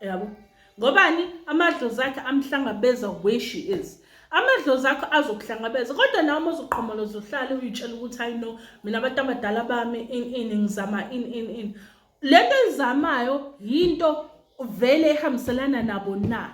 yabo ngobani amadlozi akhe amhlangabeza where she is amadlozi akho azokuhlangabeza kodwa nawe uma uzoqhomoloza uhlale uyitshela ukuthi hayi no mina abantu abadala bami in in ngizama in in in le nto ezamayo yinto vele ehambiselana nabo na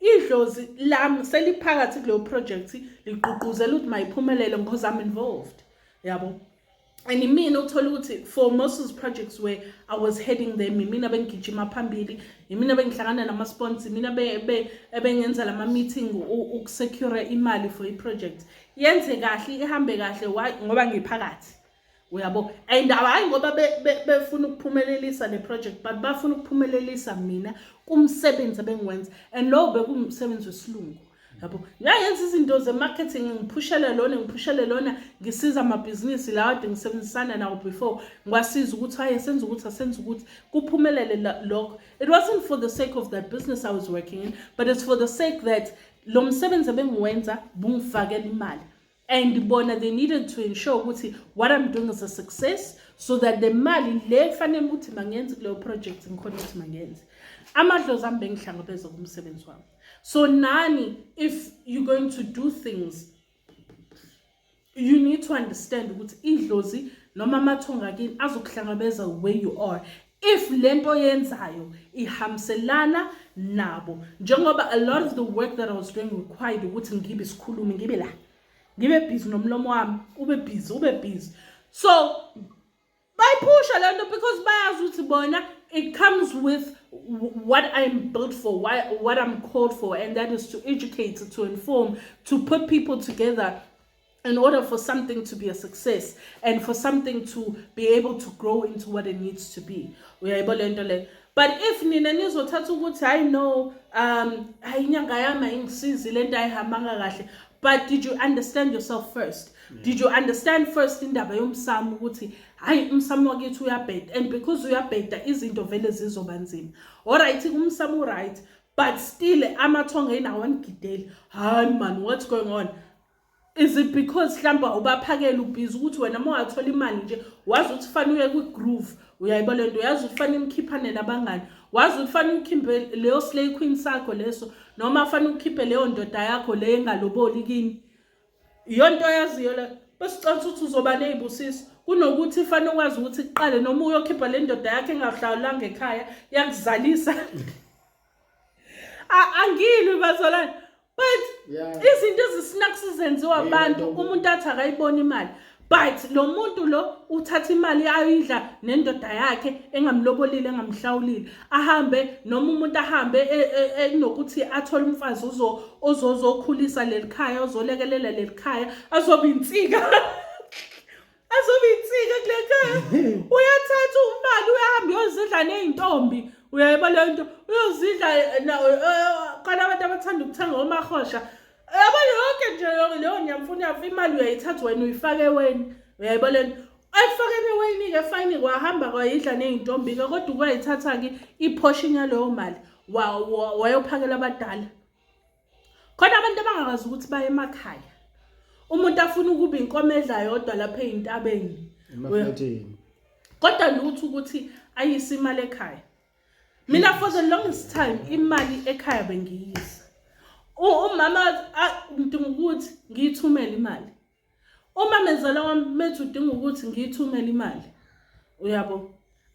idlozi lami seliphakathi kuleyo project ligqugquzela ukuthi mayiphumelele because i'm involved yabo and imina ukuthola ukuthi for most of the projects where i was heading them imina bengigijima phambili imina bengihlangana nama-spons imina ebengenza lama-meeting ukusecure imali for i-project yenze kahle ihambe kahle ngoba ngiphakathi uyabo and hhayi ngoba befuna ukuphumelelisa le project but bafuna ukuphumelelisa mina kumsebenzi ebengiwenza and lowo bekumsebenzi wesilungu yabo ngiyayenza izinto ze-marketing ngiphushele lona ngiphushele lona ngisiza amabhizinisi lawa ade ngisebenzisana nawo before ngiwasiza ukuthi haye senza ukuthi asenza ukuthi kuphumelele lokho it wasn't for the sake of that business i was working in but it's for the sake that lo msebenzi ebengiwenza bungifakela imali and bona they needed to ensure ukuthi what i'm doing is a success so that the mali le kufanele ukuthi mangenze kuleyo project ngikhona ukuthi mangenze amadlozi ami bengihlangabeza kumsebenzi wami so nani if you're going to do things you need to understand ukuthi idlozi noma amathonga kini azokuhlangabeza where you are if lento yenzayo ihamselana nabo njengoba a lot of the work that I was doing required ukuthi ngibe sikhulumi ngibe la ngibe busy nomlomo wami ube busy ube busy so bayiphusha lento because bayazi ukuthi bona it comes with what I'm built for, why, what I'm called for, and that is to educate, to inform, to put people together in order for something to be a success and for something to be able to grow into what it needs to be uyayibona lento le but if nina nizothatha ukuthi hayi no um hayi inyanga yami ayingisizi lento ayihambanga kahle but did you understand yourself first yeah. did you understand first indaba yomsamo ukuthi hayi umsamo wakithi uyabheda and because uyabheda izinto vele zizoba nzima alright umsamo uright but still amathonga inawo angigideli hayi man what's going on Is it because hlamba ubaphakela ubhizi ukuthi wena uma wathola imali nje wazi ukuthi fanele uye kwi-groove uyayiba le nto uyazi ukuthi fanele imkhiphanele abangani wazi ukuthi fanele ukhimbe leyo slay queen sakho leso noma fanele ukhiphe leyo ndoda yakho le engaloboli kini iyonto oyaziyo le besicela ukuthi uzoba neyibusiso kunokuthi fanele ukwazi ukuthi kuqale noma uyokhipha le ndoda yakhe engahlawulanga ekhaya yakuzalisa angilwi bazalwane but izinto ezisinaku sizenziwa abantu umuntu athi akayibona imali but lo muntu lo uthatha imali ayidla nendoda yakhe engamlobolile engamhlawulile ahambe noma umuntu ahambe e, e, e, enokuthi athole umfazi uzo ozozokhulisa lelikhaya ozolekelela lelikhaya azobe insika azobe insika kule khaya uyathatha umali uyahambe uyozidla ney'ntombi uyayiba leyo nto uyozidla khona abantu abathanda ukuthenga omahosha yabo yonke nje leyo nyamfuna yafa imali uyayithatha wena uyifake weni uyayiba le nto ekufakeni eweyini-ke fayini kwahamba kwayidla ney'ntombi-ke kodwa kwayithatha-ke iphoshinya leyo mali wayophakela abadala khona abantu abangakwazi ukuthi baye emakhaya umuntu afuna ukuba inkomo edla yodwa lapha eyintabeni kodwa lutho ukuthi ayise imali ekhaya mina for the longest time imali ekhaya bengiyisa umama ngidinga ukuthi ngiyithumele imali uma menzala wami methi udinga ukuthi ngiyithumele imali uyabo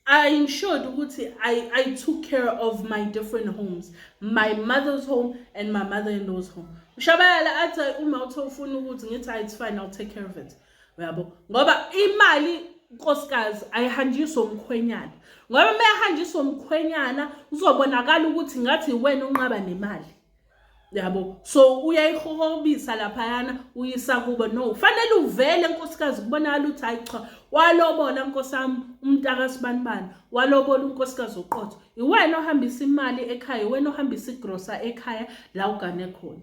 I ensured ukuthi I, I took care of my different homes my mother's home and my mother-in-law's home ushabayala athi uma uthe ufuna ukuthi ngithi hayi it's fine I'll take care of it uyabo ngoba imali nkosikazi ayihanjiswe umkhwenyana ngoba uma ehanjiswe umkhwenyana uzobonakala ukuthi ngathi yiwena unqaba nemali yabo so uyayihohobisa laphayana uyisa kubo no fanele uvele nkosikazi kubonakala ukuthi hayi cha walobola nkosi yami umntaka sibanibani walobola unkosikazi oqotho iwena ohambisa imali ekhaya iwena ohambisa igrosa ekhaya la ugane khona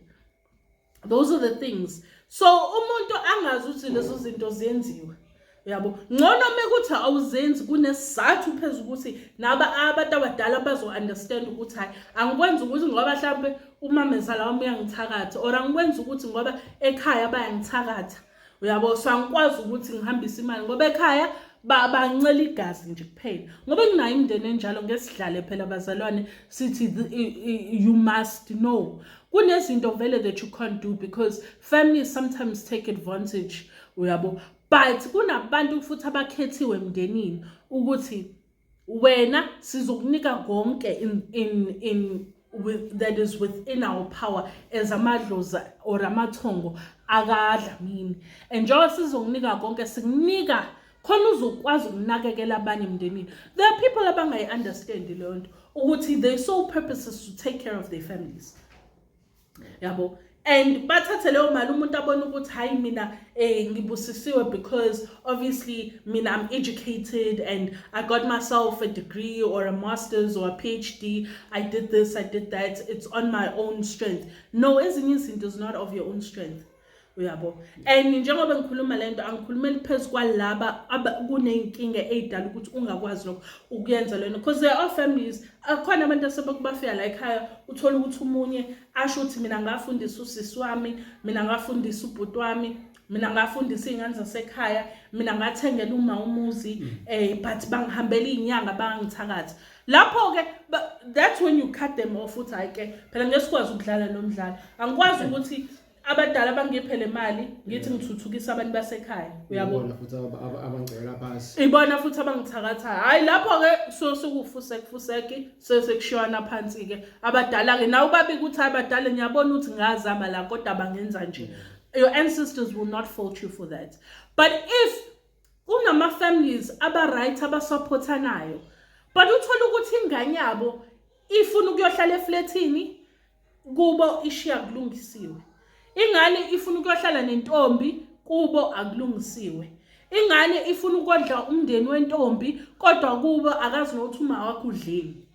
those are the things so umuntu angazi ukuthi lezo zinto zenziwe yabo ngcono uma kuthi awuzenzi kunesizathu phezu ukuthi naba abantu abadala bazo-understand ukuthi hhayi angikwenzi ukuthi ngoba mhlawumpe umamezala wami uyangithakatha or angikwenzi ukuthi ngoba ekhaya bayangithakatha uyabo so angikwazi ukuthi ngihambise imali ngoba ekhaya bancela igazi nje kuphela ngoba kunayo imndeni enjalo ngesidlale phela abazalwane sithi you must know kunezinto vele that you can't do because families sometimes take advantage uyabo but kunabantu futhi abakhethiwe emndenini ukuthi wena sizokunika konke in, in, in with, that is within our power as amadlozi or amathongo akadlamini and njengoba sizokunika konke sikunika khona uzokwazi ukunakekela abanye emndenini there are people abangayi-understandi leyo nto ukuthi they sole purposes to take care of their families yabo and bathathe leyo mali umuntu abona ukuthi hayi mina eh ngibusisiwe because obviously mina I'm educated and I got myself a degree or a masters or a PhD I did this I did that it's on my own strength no ezinye izinto is not of your own strength uyabo and njengoba ngikhuluma le nto angikhulumeli phezu kwalaba kuney'nkinga ey'dala ukuthi ungakwazi lokho ukuyenza lento because there are families akhona abantu asebekubafika la ekhaya uthole ukuthi umunye asho ukuthi mina ngafundisa usisi wami mina ngafundisa ubhuti wami mina ngafundisa iy'ngane zasekhaya mina ngathengela uma umuzi um but bangihambela iy'nyanga bangangithakathi lapho-ke that's when you cut them off uthi hhayi ke phela ngesikwazi ukudlala lo mdlalo angikwazi ukuthi abadala bangiphe le mali ngithi ngithuthukisa abantu basekhaya uyabona futhi abangcela phansi ibona futhi abangithakathayo hayi lapho-ke so sekufusekufuseki sesekushiywana phansi-ke abadala-ke nawe ubabi ukuthi hayi badala ngiyabona ukuthi ngazama la kodwa bangenza nje your ancestors will not fault you for that but if kunama-families aba-right abasupporthanayo but uthole ukuthi ingane yabo ifuna ukuyohlala eflethini kubo ishiya kulungisiwe ingane ifuna ukuyohlala nentombi kubo akulungisiwe ingane ifuna ukodla umndeni wentombi kodwa kubo akazi nokuthi uma wakho udleni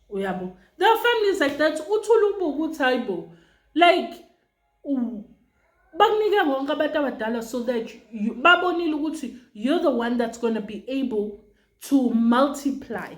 uyabo the families like that uthula ubuka ukuthi hayibo like bakunike konke abantu abadala so that babonile ukuthi you're the one that's going to be able to multiply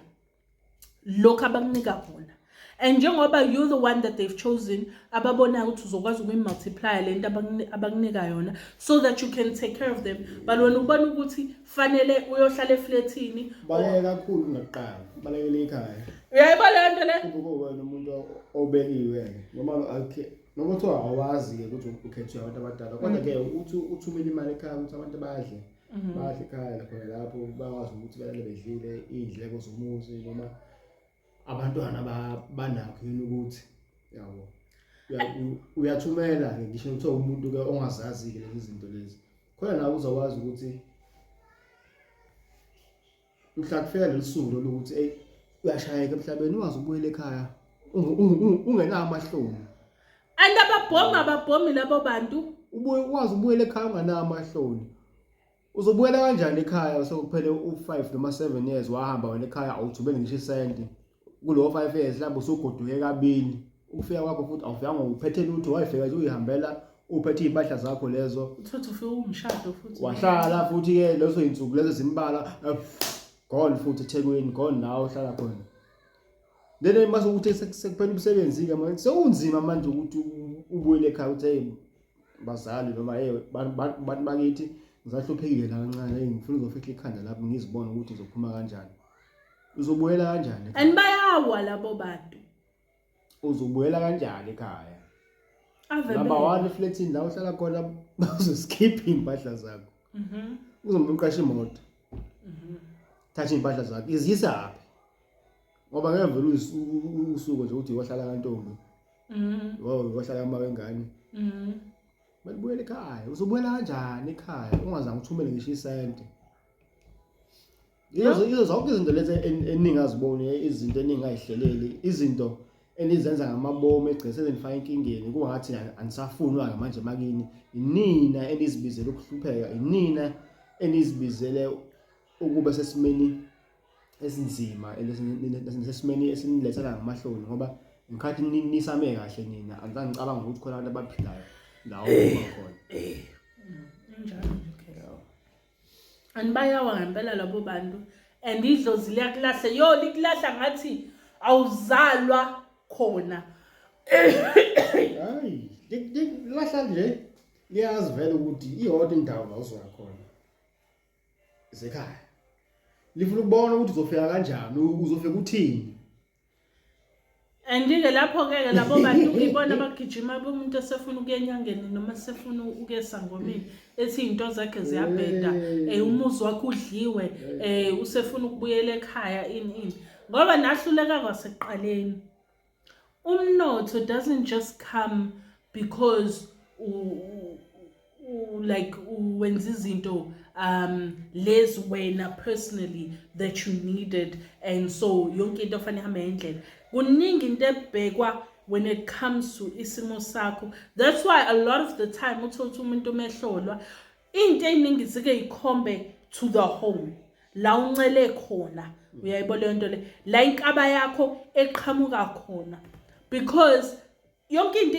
lokhu abakunika kona and njengoba you the one that they've chosen ababonayo ukuthi uzokwazi ukuyimultiplier le nto abakunika yona so that you can take care of them but wena ubona ukuthi fanele uyohlala eflethini baleke kakhulu kunakuqala balekele ikhaya uyayibona le nto le kubuke wena umuntu obekiwe noma akhe noma kuthiwa awazi-ke ukuthi ukhethwe abantu abadala kodwa-ke mm. uthi uthumele imali ekhaya ukuthi abantu badle Mhm. badla ekhaya khona lapho bakwazi ukuthi balale bedlile iy'ndleko zomuzi noma abantwana ba- banakho yini ukuthi yabo Uya- u- uyathumela-ke ngisho kuthiwa umuntu-ke ongazazi-ke lezi zinto lezi khona nawe uzokwazi ukuthi mhla kufika leli suku lolu ukuthi eyi uyashayeka emhlabeni ungaze ubuyele ekhaya unge- unge- unge- ungenawo amahloni and ababhomi ababhomi labo bantu ubuye ukwazi ubuyele ekhaya unganawo amahloni uzobuyela kanjani ekhaya sekuphele u-five noma seven years wahamba wena ekhaya awuthubele ngisho isenti kulowo five years mhlawumbe usugoduke kabili ukufika kwakho futhi awufikanga uphethe lutho wayifika nje uyihambela uphethe iy'mpahla zakho lezo uthothe ufike umshado futhi wahlala futhi-ke lezo yinsuku lezo zimbala eh, gone futhi ethekwini gone nawe uhlala khona lena mase ukuthi sekuphela umsebenzi-ke manje sekunzima manje ukuthi ubuyele ekhaya ukuthi hey bazali noma hey bantu bakithi ngisahluphekile la kancane ngifuna uzofihla ikhanda lapho ngizibone ukuthi ngizophuma kanjani Uzobuyela kanjani? And bayawa labo bantu. Uzobuyela kanjani ekhaya? Ave Number 1 flatini la uhlala khona bazoskipha impahla zakho. Mhm. Uzombe uqashe imoto. Mhm. Thatha impahla zakho. Izisa aphi? Ngoba ngeke vele usuku nje uthi wahlala kantombi. Mhm. Wow, wahlala ama wengane. Mhm. Balibuyela ekhaya. Uzobuyela kanjani ekhaya? Ungazange uthumele ngisho isente. Yizo yizo zonke izinto lezi en- eningi aziboni izinto eningi ayihleleli izinto enizenza ngamabomu egcese zenifaka enkingeni kungathi an- anisafunwa ke manje makini inina enizibizele ukuhlupheka inina enizibizele ukube sesimeni esinzima esesimeni esinilethela ngamahloni ngoba ngikhathi ni- nisame kahle nina angizange ngicabanga ukuthi khona abantu abaphilayo lawo khona Eh, Injalo nje. and bayawa ngempela labo bantu and idlozi liyakulahla yo likulahla ngathi awuzalwa khona hayi likulahla nje liyazi vele ukuthi iyodwa indawo la uzoya khona isekhaya lifuna ukubona ukuthi uzofika kanjani uzofika uthini andike lapho-ke ke labo bantu ngibona abagijima bomuntu esefuna ukuya enyangeni noma esefuna ukuya esangomeni ethi iy'nto zakhe ziyabheda um umuzi wakhe udliwe um usefuna ukubuyela ekhaya ini ini ngoba nahluleka kwasekuqaleni umnotho doesn't just come because like wenza izinto um lezi wena personally that you needed and so yonke into fanele ihambe ngendlela kuningi into ebhekwa when it comes to isimo sakho that's why a lot of the time uthole ukuthi umuntu umehlolwa into eyiningi zike yikhombe to the home la uncele khona uyayibona leyo nto le la inkaba yakho eqhamuka khona because yonke into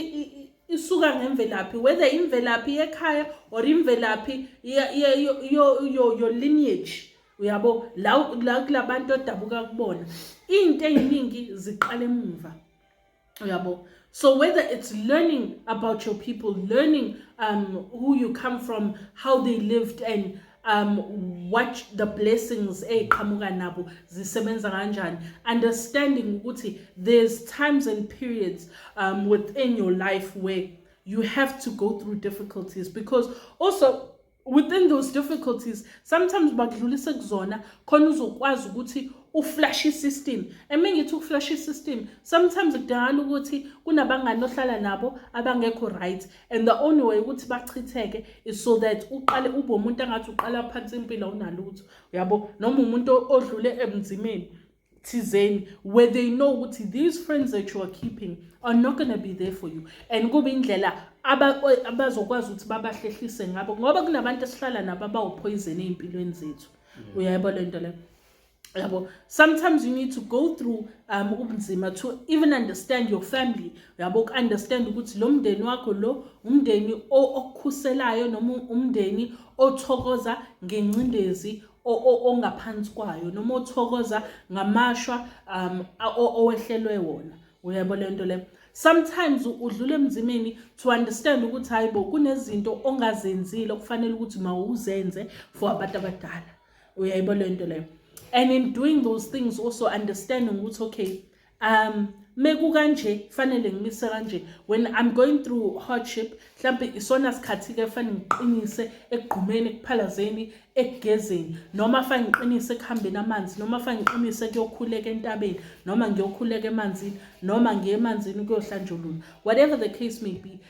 isuka ngemvelaphi whether imvelaphi yekhaya or imvelaphi your lineage uyabo la kulabantu odabuka kubona into eziningi ziqala emuva uyabo so whether it's learning about your people learning um who you come from how they lived and um watch the blessings eziqhamuka nabo zisebenza kanjani understanding ukuthi there's times and periods um within your life where you have to go through difficulties because also within those difficulties sometimes bakudlulise kuzona khona uzokwazi ukuthi uflash system eme ngithi ukuflash system sometimes kudangala ukuthi kunabangani ohlala nabo abangekho right and the only way ukuthi bachitheke is so that uqale ube umuntu angathi uqala phansi impilo unalutho uyabo noma umuntu odlule ebunzimeni thizeni where they know ukuthi these friends that you are keeping are not going to be there for you and kube indlela abazokwazi ukuthi babahlehlise ngabo ngoba kunabantu esihlala nabo abawuphoyizeni ey'mpilweni zethu uyayibona le nto leyo yabo sometimes you need to go through um ubunzima to even understand your family yabo uku-understand ukuthi lo mndeni wakho lo umndeni okukhuselayo noma umndeni othokoza ngencindezi ongaphansi kwayo noma othokoza ngamashwa um owehlelwe wona uyabo le nto le sometimes udlula emzimeni to understand ukuthi hayi bo kunezinto ongazenzile okufanele ukuthi mawuzenze for abantu abadala uyayibo le nto leyo and in doing those things also understanding ukuthi okay um mekukanje fanele ngimise kanje when i'm going through hardship mhlampe isona sikhathi ke fanele ngiqinise ekugqumeni ekuphalazeni ekugezeni noma fanele ngiqinise ekuhambeni amanzi noma fanele ngiqinise kuyokhuleka entabeni noma ngiyokhuleka emanzini noma ngiye emanzini kuyohlanjulula whatever the case may be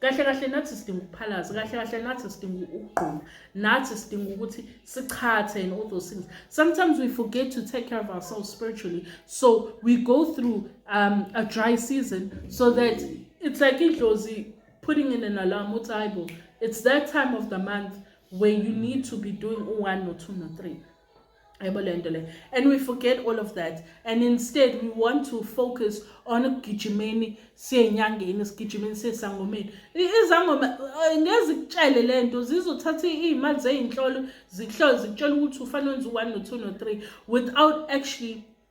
kahle kahle nathi sidinga ukuphalaza kahle kahle nathi sidinga ukugquma nathi sidinga ukuthi sichathe and all those things sometimes we forget to take care of ourselves spiritually so we go through um, a dry season so that it's like idlozi putting in an alarm uthi hayibo it's that time of the month where you need to be doing u-one no-two no-three yabo le nto le and we forget all of that and instead we want to focus on ukugijimeni siye enyangeni sigijimeni siye esangomeni izangoma eh, ngeze kutshele le nto zizothatha iy'mali zey'nhlolo zikuhlole zikutshela ukuthi ufanele wenza u-one no-two no-three without actually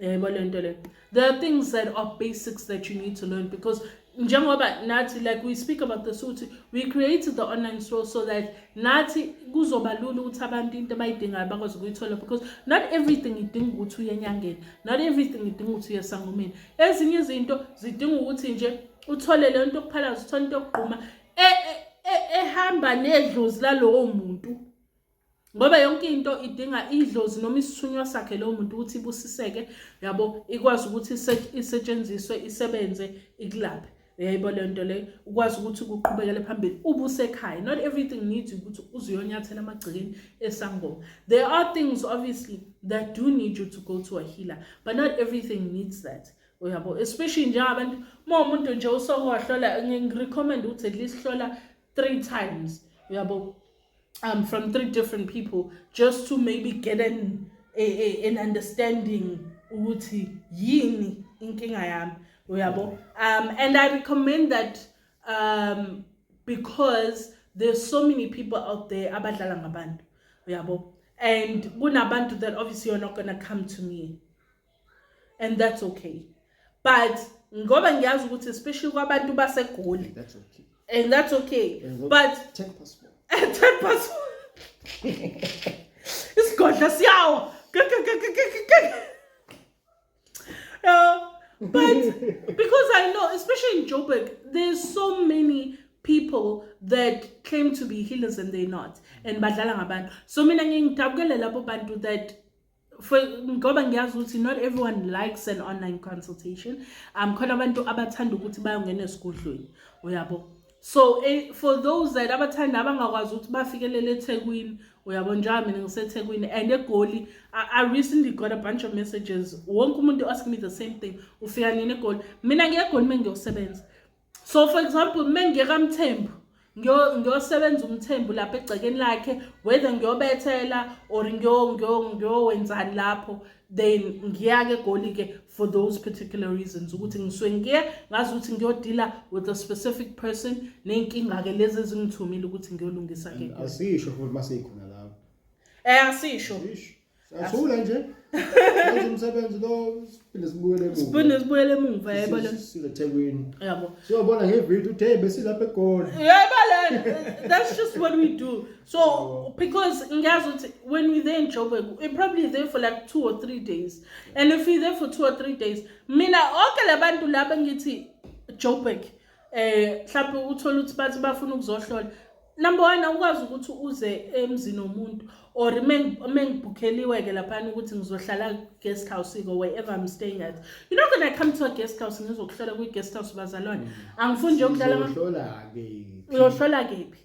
yebo le nto le there are things that are basics that you need to learn because njengoba nathi like we speak about this ukuthi we created the online store so that nathi kuzoba lula ukuthi abantu into abayidingayo bakwazi ukuyithola because not everything idinga ukuthi uye enyangeni not everything idinga ukuthi uye esangomeni ezinye izinto zidinga ukuthi nje uthole le nto yokuphalaza uthole into yokugquma e, e, e, ehamba nedlozi lalowo muntu ngoba yonke into idinga idlozi noma isithunywa sakhe lowo muntu ukuthi ibusiseke yabo ikwazi ukuthi isetshenziswe isebenze ikulaphe yayibo le nto leyo ukwazi ukuthi kuqhubekele phambili ubusekhaya not everything needs ukuthi uze uyonyathela amagcekeni esangoma there are things obviously that do need you to go to a healer but not everything needs that uyabo especially njengabantu uma umuntu nje usokohlola ngirecommend ukuthi at least hlola three times uyabo um, from three different people just to maybe get an, a, a, an understanding ukuthi yini inkinga yami uyabo um, and i recommend that um, because there's so many people out there abadlala ngabantu uyabo and kunabantu that obviously you're not gonna come to me and that's okay but ngoba ngiyazi ukuthi especially kwabantu basegoli that's okay and that's okay and but 10 passport 10 passport isigodla siyawa yeah but because i know especially in joburg there's so many people that claim to be healers and they're not and badlala ngabantu so mina ngiyidabukele labo bantu that for ngoba ngiyazi ukuthi not everyone likes an online consultation um khona abantu abathanda ukuthi bayongena esigodlweni uyabo so eh, for those that abathanda abangakwazi ukuthi bafikelele ethekwini uyabo njengoba mina ngisethekwini and egoli I, i recently got a bunch of messages wonke umuntu asking me the same thing ufika nini egoli mina ngiyegoli uma ngiyosebenza so for example uma ngiye kamthembu ngiyosebenza umthembu lapha egcekeni lakhe whether ngiyobethela or ngiyowenzani lapho then ngiyake egoli-ke for those particular reasons ukuthi ngisuke ngiye ngazi ukuthi ngiyodila with a specific person ney'nkinga-ke lezi ezingithumile ukuthi ngiyolungisa-ke asisho futhi uma siyikhona lapho um asisho Siyashula nje. Wenza umsebenzi lo siphinde sibuyele emuva. Siphinde sibuyele emuva yebo lo. Silethekwini. Yabo. Siyobona ngevideo uthi hey besilapha egoli. Yebo la. That's just what we do. So oh. because ngiyazi ukuthi when we there in Joburg, we probably there for like 2 or 3 days. And if we there for 2 or 3 days, mina onke labantu laba ngithi Joburg eh mhlawumbe uthola ukuthi bathi bafuna ukuzohlola number one awukwazi ukuthi uze emzini womuntu or mengibhukheliwe ke laphana ukuthi ngizohlala guest house ko wherever i'm staying at you know gonna come to a guest house ngizokuhlola kwi guest house bazalwane mm. angifuni nje ukudlala uyohlola ke uyohlola kephi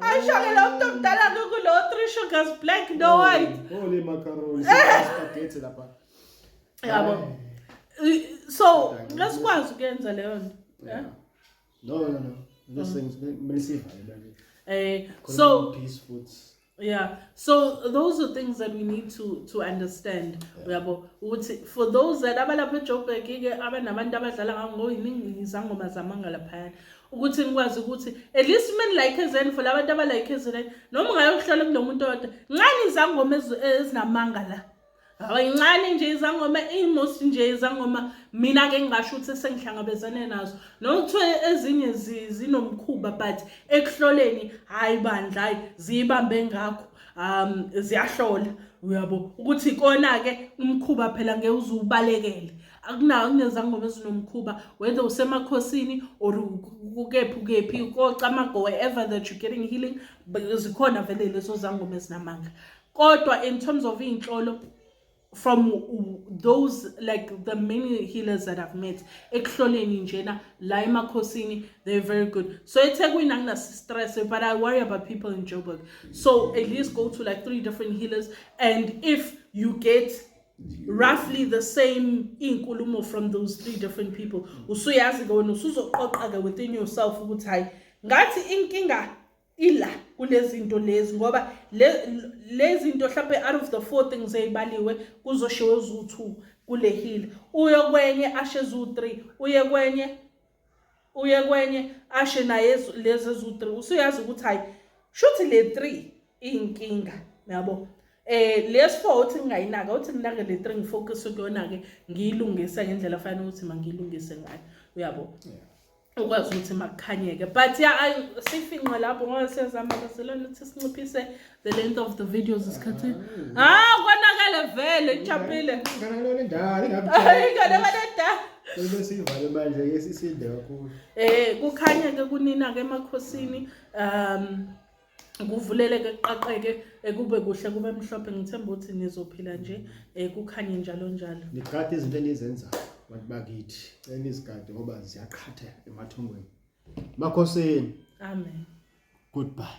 Ashake lo mntu omdala kukulo three sugars black no oh, white. Oh le macaroni spaghetti lapha. Yabo. So lesikwazi ukuyenza leyo nto. Yeah. No no no. Lesingisivalela. Eh so peace foods. yeah so those are things that we need to to understand uyabo ukuthi for those that abalapha ejoburg ke abanabantu abadlala ngangoyiningi izangoma zamanga laphayana ukuthi nikwazi ukuthi at least uma nilike ezeni for labantu abalike ezeni noma ungayokuhlola kunomuntu odwa ncane izangoma ezinamanga la ayincane nje izangoma imost nje izangoma mina ke ngingasho ukuthi sengihlangabezane nazo noma kuthiwa ezinye zinomkhuba but ekuhloleni hhayi bandla hhayi ziyibambe ngakho um ziyahlola uyabo ukuthi ikona-ke umkhuba phela ngeke uze ubalekele akunawo kunezangoma ezinomkhuba whether usemakhosini or kukephi ukephi kocamago wherever that you're getting healing zikhona vele lezo zangoma ezinamanga kodwa in terms of iy'nhlolo from those like the many healers that i've met ekuhloleni njena la emakhosini they're very good so ethekwini anginastress but i worry about people in joburg so at least go to like three different healers and if you get roughly the same iy'nkulumo from those three different people usuyazi-ke wena usuzoqoqa-ke within yourself ukuthi hhayi ngathi inkinga ila kulezinto lezi ngoba lezinto mhlawumbe out of the four things eyibaliwe kuzoshiwo zu-two kule hill uye kwenye ashe zu-three uye kwenye uye kwenye ashe naye lezi zu-three usuyazi ukuthi hhayi shuthi le three iyinkinga yabo eh lesi four uthi ngingayinaka uthi nginake le three ngifocus kuyona-ke ngiyilungise ngendlela fanele ukuthi mangiyilungise ngayo uyabo yeah. ukwazi ukuthi makukhanyeke but ya sifinqe lapho ngoba siyazama kazelana ukuthi sinciphise the length of the videos isikhathi ha ah, konakele vele ichapile nganakele ndala inganakele ndala Bese sivale manje ke sisinde kakhulu. Eh kukhanya ke kunina ke emakhosini um kuvuleleke kuqaqeke ekube kuhle kube mhlophe ngithemba ukuthi nizophila nje eh, kukhanye njalo njalo niqhathe izinto enizenzayo bantu bakithi cela nizigade ngoba ziyaqhatha emathongweni makhosini amen goodbye